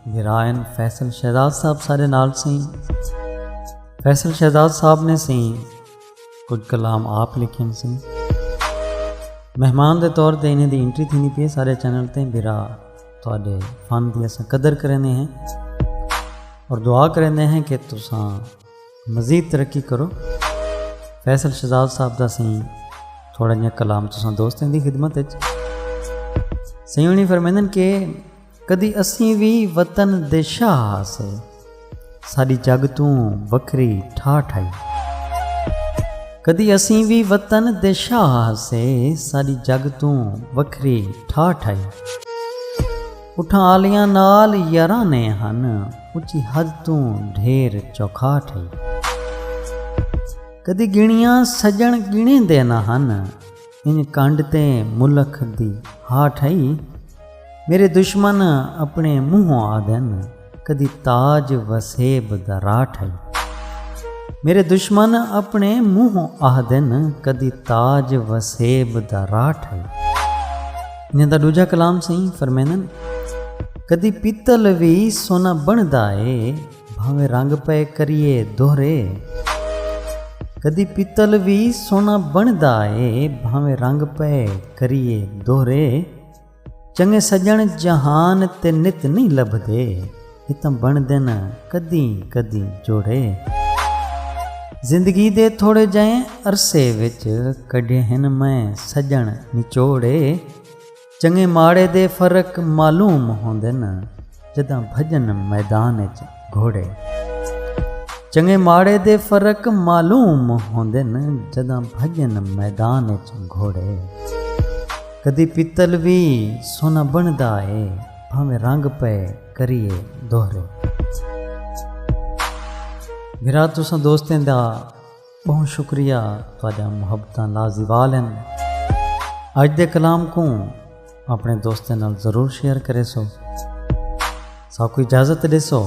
ورائن فیصل شہزاد صاحب سارے نال سی فیصل شہزاد صاحب نے سی کچھ کلام آپ لکھن سی مہمان دے طور تے انہیں دی انٹری تھی نہیں پی سارے چینل تے برا تھوڑے فن دی اساں قدر کرنے ہیں اور دعا کرنے ہیں کہ تساں مزید ترقی کرو فیصل شہزاد صاحب دا سی تھوڑا جہاں کلام تساں دوستیں دی خدمت ہے سیونی فرمیندن کہ کدی اسیں وی وطن دے شاہ ہاسے۔ ساڈی جگ توں وکھری ٹھاٹھ ہئی۔ کدی اسیں وی وطن دے شاہ ہاسے۔ ساڈی جگ توں وکھری ٹھاٹھ ہئی۔ اٹھاں آلیاں نال یارانے ہن۔ اچی حد توں ڈھیر چوکھاٹھ ہئی۔ کدی گنیاں سجن گنیندے نہ ہن۔ انج کنڈ تے ملک دی ہا ٹھئی۔ میݙے دشمن اپݨے منہوں آہدن کدی تاج وسیب دا را ٹھئی۔ میݙے دشمن اپݨے منہوں آہدن کدی تاج وسیب دا را ٹھئی۔ انہاں دا ݙوجھا کلام سئیں فرمیندن۔ کدی پتل وی سونا بݨدا اے۔ بھانویں رنگ پئے کریئے دوہرے۔ کدی پتل وی سوہنا بݨدا اے بھانویں رنگ پئے کریئے دوہرے۔ چنگے سڄݨ جہان تے نت نئیں لبھدے اتاں بݨدن کدیں کدیں جوڑے۔ زندگی دے تھوڑے جہیں عرصے وچ کڈھے ہن میں سڄݨ نچوڑے۔ چنگے ماڑے دے فرق معلوم ہوندن جداں بھجن میدان اچ گھوڑے۔ چنگے ماڑے دے فرق معلوم ہوندن جداں بھجن میدان اچ گھوڑے۔ کدی پتل وی سونا بنڑدا اے بھانویں رنگ پئے کریے دوہرے۔ بھرا تساں دوستیں دا۔ بہوں شکریہ تہاڈیاں محبتاں لازوال ہن اج دے کلام کوں اپنے دوستیں نال ضرور شیئر کریسو ساکو اجازت ڈیسو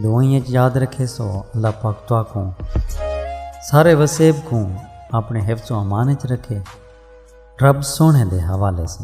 دعائیں اچ یاد رکھیسو اللہ پاک تہاکوں سارے وسیب کوں اپنے حفظ و امان اچ رکھے رب سونے دے حوالے سے